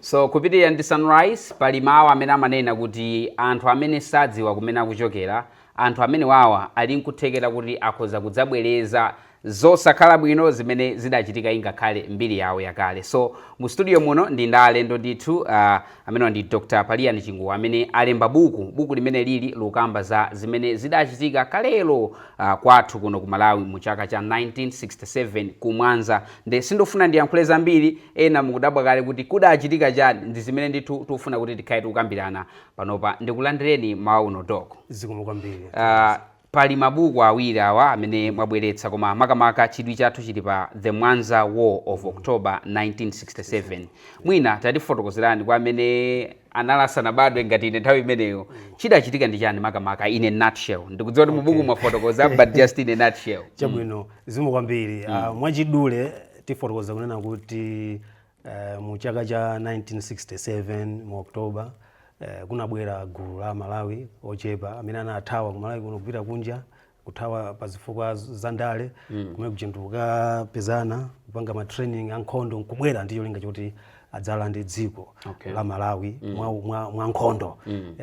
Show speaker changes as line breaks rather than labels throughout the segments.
So kupitirira ndi Sunrise, pali mawu amene amanena kuti anthu amene sadziwa kumene akuchokera, anthu amenewawa ali n'kuthekera kuti akhoza kudzabwereza zosakhala bwino zimene zidachitika ingakhale mbiri yawo yakale. So mu studio muno ndi ndi alendo ndithu uh, amenewa ndi Dr. Paliani Chinguwo amene alemba buku buku limeneli lukamba za zimene zidachitika kalelo uh, kwathu kuno ku Malawi mu chaka cha 1967 ku Mwanza Nde sindifuna ndiyankhule zambiri, ena mukudabwa kale kuti kudachitika chani, ndizimene ndithu tikufuna kuti tikhale tikukambirana panopa, ndikulandireni mmawa uno Doc. Zikomo kwambiri
Ah, pali
mabuku awiri awa amene mwabweretsa koma makamaka chidwi chathu chili pa The Mwanza War of October 1967. Mwina tatifotokozerani kwa amene anali asanabadwe ngati ine nthawi imeneyo, chidachitika ndi chani makamaka in a nutshell. Ndikudziwa kuti mubuku Okay. mwafotokoza but just in a nutshell. Mm. Chabwino.
Zikomo kwambiri. Ah, Mwachidule tifotokoza kunena kuti eh, mu chaka cha 1967 mu October eh, kunabwera gulu la Malawi ochepa amene anathawa ku Malawi kuno kupita kunja kuthawa pa zifukwa z- za ndale kumene kunjako anakapezana kupanga ma training a nkhondo nkubwera ndi cholinga choti adzalande dziko Okay. la Malawi mwa, mwa, mwa nkhondo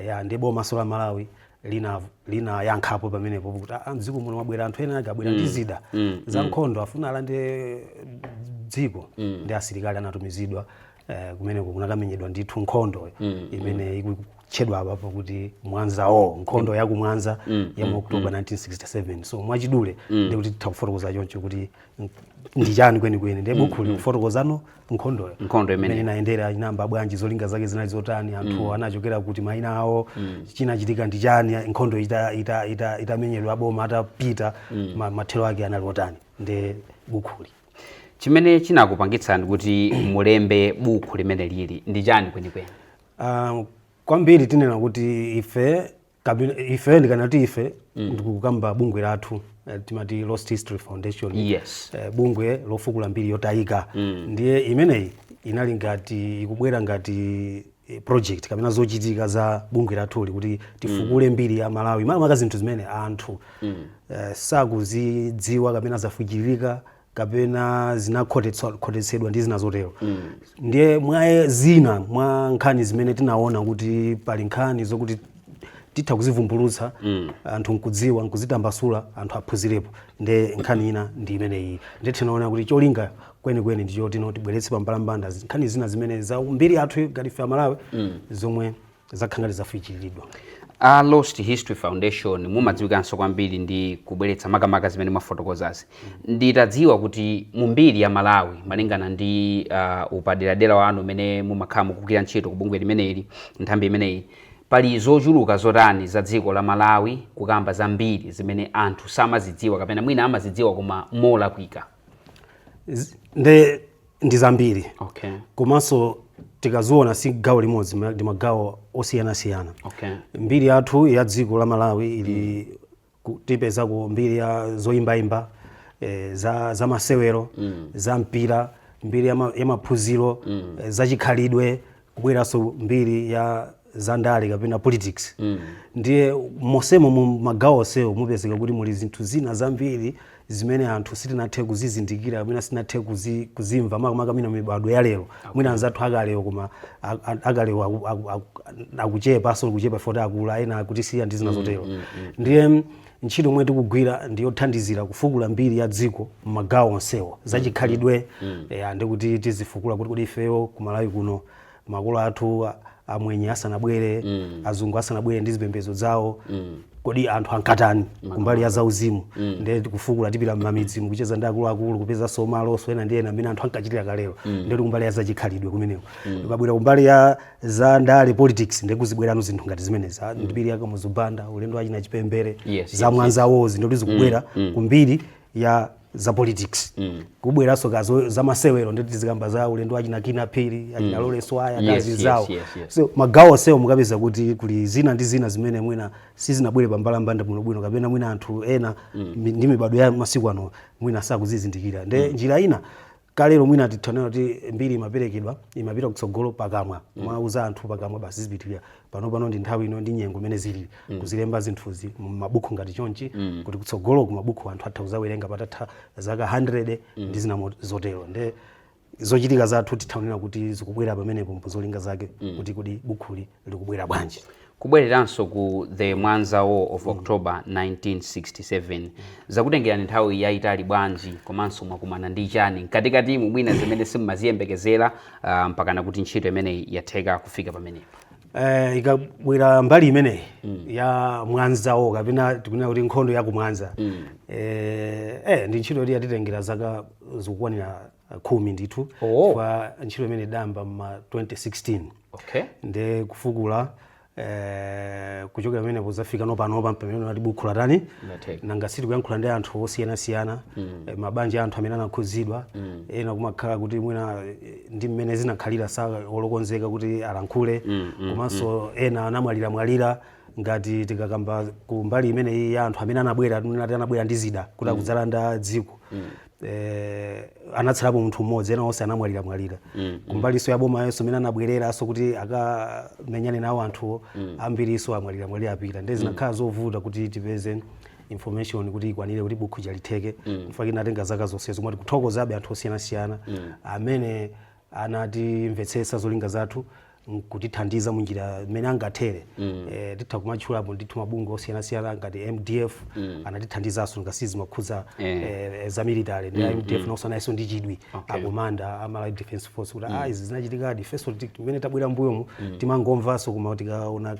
ya nde bomanso la Malawi linayankhapo pamenepo kuti "Ah, ah, mdziko muno mwabwera anthu ena ake abwera ndi zida za nkhondo afuna alande dziko ndi asilikali anatumizidwa eh, kumeneko kunakamenyedwa ndithu nkhondo imene ikutchedwa apapo kuti Mwanza War nkhondo ya kumwanza ya mu oktoba 1967 so mwachidule ndikuti titha kufotokoza choncho kuti ndi chani kwenikweni ndiye bukhuli likufotokoza no nkhondoyo Nkhondo imene- imene inayendera inayamba bwanji zolinga zake zinali zotani anthu anachokera kuti maina awo chinachitika ndi chani nkhondo ita- ita- ita- itamenyedwa aboma atapita ma- mathero ake anali otani ndi bukhuli
chimene chinakupangitsani kuti mulembe buku limeneli ndi chani kwenikweni Ah,
kwambiri tinena kuti ife kapena ife ndikamati ife ndikukamba bungwe lathu eh, timati lost history foundation Yes. eh, bungwe
lofukula
mbiri yotayika ndiye imeneyi inali ngati ikubwera ngati eh, project kapena zochitika za bungwe lathuli kuti tifukule mbiri ya malawi makamaka zinthu zimene anthu eh, sakuzidziwa kapena zafufutika kapena zinakhotetsa- khotetsedwa ndi zina zotero ndiye mwa zina mwa nkhani zimene tinaona kuti pali nkhani zokuti titha kuzivumbulutsa anthu nkudziwa nkuzitambasula anthu aphunzirepo nde nkhani ina ndi imeneyi nde tinaona kuti cholinga kwenikweni ndi choti no tibweretse pambalambanda zi- nkhani zina zimene za mbiri yathu ngati ife amalawi zomwe zakhala zafuchiridwa
Lost History foundation mumadziwikanso kwambiri ndi kubweretsa makamaka zimene mwafotokozazi nditadziwa kuti mu mbiri ya malawi malingana ndi uh, upaderadera wanu umene mumakhala mukugwira ntchito ku bungwe limeneli nthambi imeneyi pali zochuluka zotani za dziko la malawi kukamba za mbiri zimene anthu samazidziwa kapena mwina amazidziwa koma molakwika
nde ndi zambiri okay. komanso tikaziona si gawo limodzi ndi magawo osiyanasiyana okay. mbiri
yathu ya dziko la
malawi ili mm. tipeza ku mbiri ya zoyimbayimba e, za, za masewero mm. za mpira mbiri ya, ma, ya maphunziro mm. e, za chikhalidwe kubweranso mbiri ya zandale kapena politics ndiye mosemo mu magawo onsewo mupezeka kuti muli zinthu zina zambiri zimene anthu sitinathe kuzizindikira kapena sitinathe kuzi- kuzimva makamaka ma mibadwo ya lero mwina anzathu akalewo koma a- a- akalewo aku- aku- aku- akuchepanso kuchepa poti akula ena akutisiya ndi zina zotero ndiye Ntchito yomwe tikugwira ndi yothandizira kufukula mbiri ya dziko m'magawo onsewo. Zachikhalidwe, eya, ndi kuti tizifukula kuti kodi ifeyo ku Malawi kuno makolo athu amwenye asanabwere, azungu asanabwere ndi zipembedzo zawo, kodi anthu ankatani kumbali ya zauzimu. Ndiye tikufukula tipita m'mamidzimu kucheza ndi akuluakulu, kupezanso malo osewera ndi zina mmene anthu ankachitira kalelo. Ndiye ndi kumbali ya zachikhalidwe kumeneko. Tikabwera kumbali ya za ndale politics ndiye kuzibwera zinthu ngati zimenezi Ah, mbiri ya kamuzu banda ulendo wachina chipembere Yes, za yes, Mwanza War ndiye kuti zikubwera ku mbiri ya za politics kubweranso ku za masewero ndiye tizikamba za ulendo wachina Kinnah Phiri achina Lawrence Waya Yes, kazi yes, zawo yes, yes. so magawo onsewo mukapeza kuti kuli zina ndi zina zimene mwina sizinabwere pambalambanda bwinobwino kapena mwina anthu ena mi- ndi mibadwo ya masiku ano mwina sakuzizindikira nde njira ina kalero mwina titha nena kuti mbiri imaperekedwa imapita kutsogolo pakamwa mm. mwauza anthu pakamwa basi izipitirira pano pano ndi nthawi ino ndi nyengo imene zili mm. kuzilemba zinthuzi mumabukhu ngati chonchi mm. kuti kutsogolo kumabukhu anthu atha kuzawerenga patatha zaka 100 mm. ndi zina zotero nde zochitika zathu titha onera kuti zikubwera pamenepo mu zolinga zake mm. kuti kodi bukhuli likubwera bwanji? Kubwereranso
ku the Mwanza War of October 1967, zakutengerani nthawi yayitali bwanji komanso mwakumana ndi chani mkatikatimu mwina zimene simumaziyembekezera ah, mpakana kuti ntchito imeneyi yatheka kufika pamenepa? Eh,
ikabwera mbali imeneyi ya Mwanza War kapena tikunena kuti nkhondo ya kumwanza eh, eh, ndi ntchito yoti yatitengera zaka zikukwanira uh, khumi ndithu oh. chifukwa ntchito imene idayamba mma 2016 okay. nde kufukula eh, kuchokera pamene kuzafika nopanopa pamene ati bukhu latani nanga siti kuyankhula ndi anthu osiyanasiyana mm. eh, mabanja a anthu amene anakhudzidwa mm. ena kumakhala kuti mwina eh, ndi mmene zinakhalira sali okonzeka kuti alankhule mm, mm, komanso mm. ena anamwaliramwalira ngati tikakamba ku mbali imeneyi ya anthu amene anabwera nati anabwera ndi zida kuti mm. akudzalanda dziko mm. eh, anatsalapo munthu mmodzi ena onse anamwalira mwalira mm, mm. kumbaliso ya boma yonso imene anabwereranso kuti akamenyane nawo anthuwo mm. ambiriso amwalira mwalira apita ndiye zinakhala mm. zovuta kuti tipeze information kuti ikwanire kuti bukhu lija litheke mm. nchifukwa inatenga zaka zonsezo, komabe tikuthokozabe anthu osiyanasiyana mm. amene anatimvetsetsa zolinga zathu nkutithandiza munjira mmene angathere mm. e, eh, titha kumatchulapo ndithu mabungwe osiyanasiyana ngati mdf mm. anatithandizanso nanga si zimakhudza yeah. e, eh, za military ndiye a mm. mdf mm. nawonso analinso ndi chidwi okay. akomanda a Malawi Defense Force kuti mm. ah, izi zinachitikadi ifenso mmene tabwera mbuyomu mm. timangomvanso koma tikaona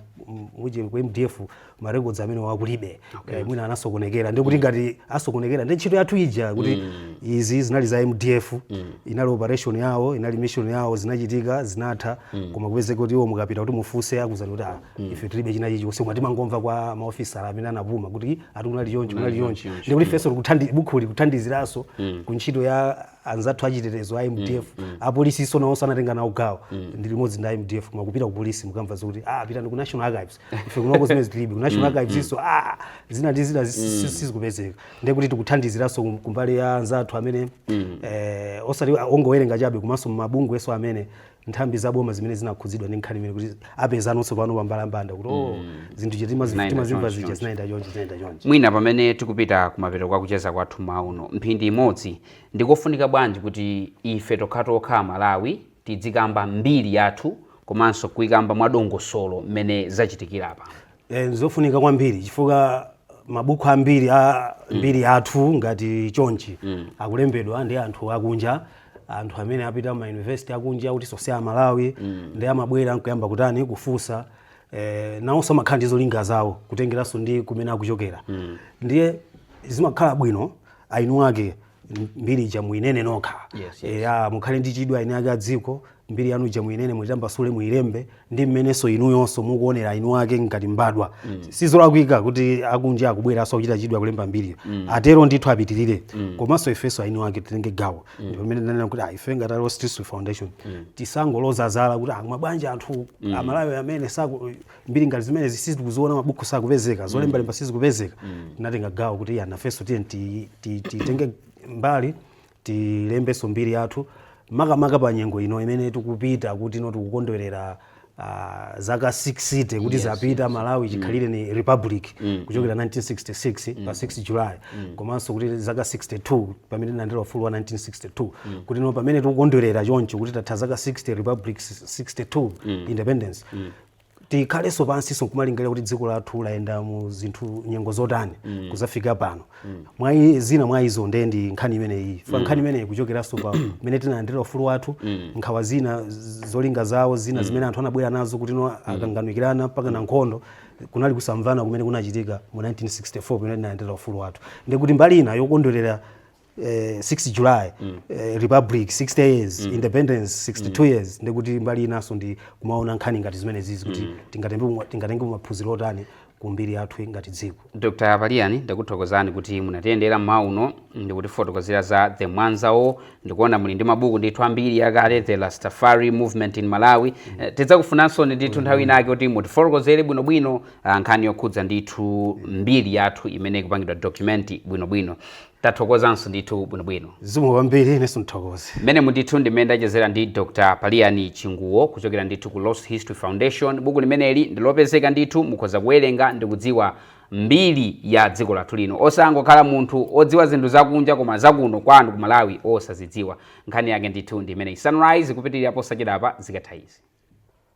muje ku mdf ma records amenewa kulibe okay. eh, mwina anasokonekera ndikuti mm. ngati asokonekera ndiye ntchito yathu ija kuti mm. izi zinali za mdf mm. inali operation yawo inali mission yawo zinachitika zinatha mm. koma upeze kuti iwo mukapita kuti mufunse akuuzani kuti ah, mm. ife tilibe china chilichonse koma timangomva kwa maofisala amene anapuma kuti ati kunali chonchi kunali chonchi ndikuti mm. ifenso bukhuli kuthandiziranso mm. ku ntchito ya anzathu achitetezo a mdf apolisinso nawonso anatenga nawo gawo anali limodzi ndi a mdf koma kupita ku polisi mukamva zokuti ah pitani ku national archives ife kunoko zimenezo tilibe ku national archives nso ah zina ndi zina zi- si- sizikupezeka ndiye kuti tikuthandiziranso kum- kumbali ya anzathu amene eh, osati ongowerenga chabe komanso mabungwenso amene nthambi za boma zimene zinakhudzidwa ndi nkhani imeneyi kuti apezanonso pano pa mbalambanda kuti oh zinthu zija eti timazi- Zinaenda timazimva chonchi, zija chonchi. zinaenda chonchi zinaenda chonchi mwina pamene tikupita
kumapeto kwa kucheza kwathu mawa uno mphindi imodzi ndikofunika bwanji kuti ife tokhatokha Amalawi tidzikamba mbiri yathu komanso kuikamba mwadongosolo mmene zachitikira apa Eh,
nzofunika kwambiri chifukwa mabuku ambiri a mbiri yathu ngati chonchi akulembedwa ndi anthu akunja anthu amene apita ma university akunja kuti afufuze za Malawi ndiye amabwera nkuyamba kutani kufunsa eh, nawonso amakhala ndi zolinga zawo kutengeranso ndi kumene akuchokera ndiye zimakhala bwino eni ake mbiri ija muinene nokha yes, yes. ya mukhale ndi chidwi eni ake a dziko mbiri yanu ija muinene muitambasule muilembe ndi mmenenso inuyonso mukuonera eni ake ngati mbadwa mm. sizolakwika kuti akunja akubweranso kuchita chidwi kulemba mbiriyo mm. atero ndithu apitirire mm. komanso ifenso eni ake titenge gawo mm. ndipo mmene tinanena kuti ah, ife ngati a Lost History Foundation mm. tisangoloza zala kuti ah, mwabwanji anthu mm. amalawi amene saku mbiri ngati zimenezi sizikuziona mabuku sakupezeka zolembalemba mm. sizikupezeka mm. tinatenga gawo kuti ah nafenso tiye titenge mbali tilembenso mbiri yathu makamaka pa nyengo ino imene tikupita kuti no tikukondwerera Uh, zaka 60 kuti yes, zapita yes. Malawi mm. chikhalire ni republic mm. kuchokera 1966 mm. pa 6 July mm. komanso kuti zaka 62 pamene tinalandira ufulu wa 1962 mm. kuti no pamene tikukondwerera choncho kuti tatha zaka 60 republic 62 mm. independence mm. tikhalenso pansinso nkumalingalira kuti dziko lathu layenda mu zinthu nyengo zotani mm. kuzafika pano mm. zina mwa izo ndiye ndi nkhani imeneyi fa mm. nkhani imeneyi kuchokeranso pa mmene tinalandira ufulu wathu mm. nkhawa zina z- zolinga zawo zina mm. zimene anthu anabwera nazo kuti no akanganirana mpaka na nkhondo kunali kusamvana kumene kunachitika mu 1964 pamene tinalandira ufulu wathu ndikuti mbali ina yokondwerera eh, 6 july eh, republic 60 years independence 62 years ndikuti mbali inanso ndi kumaona nkhani ngati zimenezizi kuti tingatenge tingatengepo maphunziro otani ku mbiri yathu ngati dziko dr a paliani
ndakuthokozani kuti munatiyendera mmawa uno ndikutifotokozera za the mwanza war ndikuona muli ndi mabuku ndithu ambiri yakale the rastafari movement in malawi Eh, tidzakufunanso ndithu nthawi inake kuti mutifotokozere bwinobwino ah, nkhani yokhudza ndithu mbiri yathu imene ikupangidwa document bwinobwino Tathokozanso ndithu bwinobwino. Zikomo kwambiri inenso
ndithokoze. Mmenemu ndithu ndi mmene
ndachezera ndi Dr Paliyani Chinguwo kuchokera ndithu ku Lost History Foundation. Buku limeneli ndi lopezeka ndithu, mukhoza kuwerenga ndi kudziwa mbiri ya dziko lathu lino, osangokhala munthu odziwa zinthu zakunja koma zakuno kwanu ku Malawi osazidziwa. Nkhani yake ndithu ndi imeneyi. Sunrise ikupitirira posachedwapa zikatha izi.